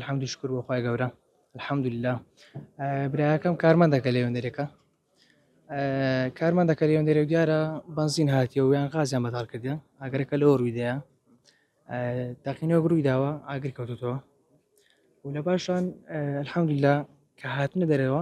الحمد شکر بۆ خی گەورە الحمد لله براکەم کارمان دەکە لەوێندەرێکە کارمان دەکە لەوێندەرێ و دیارە بنزین هاتیەوە یان غازیان بەتاڵ کردیان ئەگەرەکە لەوە ڕوویدەیە داقینەوە ڕووی داوە ئاگر کەوتوتەوە و لە باشان الحمد لله کە هاتنە دەرەوە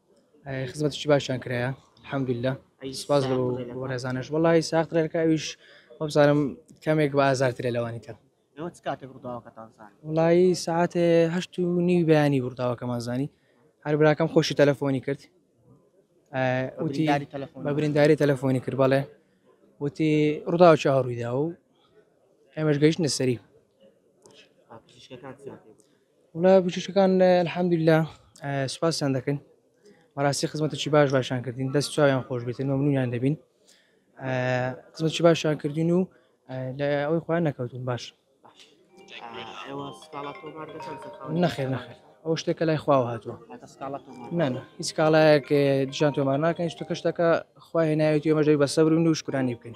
خزمەتشی باشیان کرایە حەمدللا سپاس بۆ بەڕێزانش وڵی ساخت ڕێکە ئەویش وەبزانم کەمێک بە ئازارترە لەوانی تر وڵی ساعتێ هەشت و نیو بەیانی بڕداوەکەمان زانی هەر براکەم خۆشی تەلەفۆنی کرد وتی بە برینداری تەلەفۆنی کرد بەڵێ وتی ڕووداوە چ هەڕوویدا و ئێمەش گەیشت نەسەری وڵا بچووکەکان الحمدللە سوپاسیان دەکەین بەڕاستی خزمەتێکی باش باشان کردین دەست چاویان خۆش بێتن مەمنونیان دەبین خزمەتکی باشان کردین و لە ئەوەی خۆیان نەکەوتون باش نەخێر نەخێر ئەو شتێکە لای خواوە هاتووە نانە هیچ کاڵایەک جان تۆمار ناکەین شتەکە شتەکە خوا هێنایەتی ئێمەش دەبێ بە سەبر بین و شکرانەی بکەین.